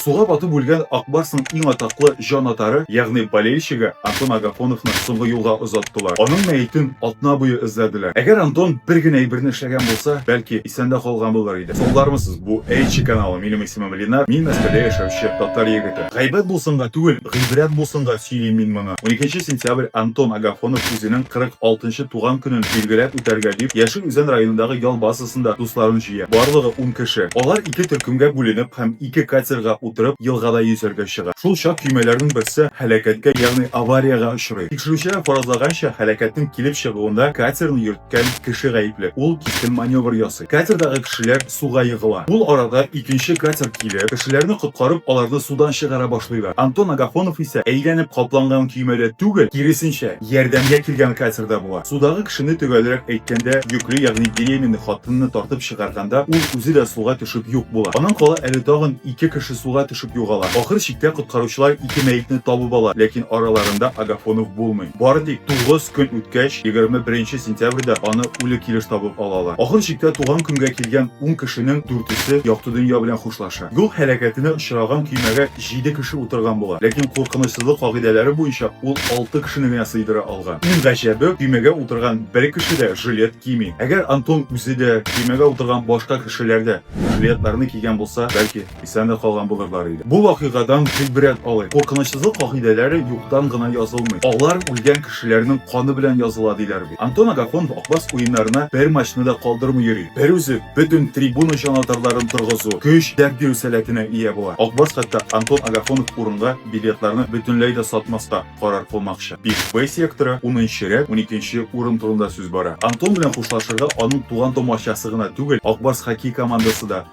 Суга батып үлгән Ак Барсның иң атаклы җанатары, ягъни болельщигы Антон Агафоновны соңгы юлга озаттылар. Аның мәетен атна буе эзләделәр. Әгәр Антон бер генә әйберне эшләгән булса, бәлки, исән дә калган булыр иде. Соңлармысыз, бу Эйчи каналы, минем исемем Ленар, мин Мәскәүдә яшәүче татар егете. Гайбәт булсынга түгел, гыйбрәт булсынга сөйлим мин моны. Уникенче сентябрь Антон Агафонов үзенең 46 нчы туган көнен билгеләп үтәргә дип, Яшел Үзән районындагы ял базасына Барысында дусларын җыя. Барлыгы ун кеше. Алар ике төркемгә бүленеп һәм ике катерга утырып елгада йөзәргә чыга. Шул чак көймәләрнең берсе һәлакәткә, ягъни авариягә очрый. Тикшерүчеләр фаразлаганча, һәлакәтнең килеп чыгуында катерны йөрткән кеше гаепле. Ул кискен маневр ясый. Катердагы кешеләр суга егыла. Ул арада икенче катер килеп, кешеләрне коткарып, аларны судан чыгара башлыйлар. Антон Агафонов исә әйләнеп капланган көймәдә түгел, киресенчә, Ярдәмгә килгән Катер дә була. Судагы кешене, төгәлрәк әйткәндә, йөкле, ягъни беременный хатынны тартып чыгарганда, ул үзе дә суга төшеп юк була. Аннан кала әле тагын ике кеше суга төшеп югала. Ахыр чиктә коткаручылар ике мәетне табып ала, ләкин араларында Агафонов булмый. Бары тик тугыз көн үткәч, егерме беренче сентябрьдә аны үле килеш табып алалар. Ахыр чиктә туган көнгә килгән ун кешенең дүртесе якты дөнья белән хушлаша. Юл һәлакәтенә очраган көймәгә җиде кеше утырган була, ләкин куркынычсызлык кагыйдәләре буенча ул алты кешене генә сыйдыра алган. Иң гаҗәбе, көймәгә утырган бер кеше дә жилет кими. Әгәр Антон үзе дә, көймәгә утырган башка кешеләр дә жилетларны кигән булса, бәлки, исән дә калган булырлар иде. Бу вакыйгадан гыйбрәт алыйк. Куркынычсызлык кагыйдәләре юктан гына язылмый. Алар үлгән кешеләрнең каны белән языла, диләр. Антон Агафонов Акбас уеннарына бер матчны да калдырмый йөри. Бер үзе бөтен трибуна чаналтарларын торгызу, көч, дәрт бирү сәләтенә ия була. Акбас хәтта Антон Агафонов урынга билетларны бөтенләй дә сатмаска карар кылмакчы. Бик Б секторы, унынчы рәт, уникенче урын турында сүз бара. Антон белән хушлашырга аның туган-тумачасы гына түгел, Акбас хоккей командасы да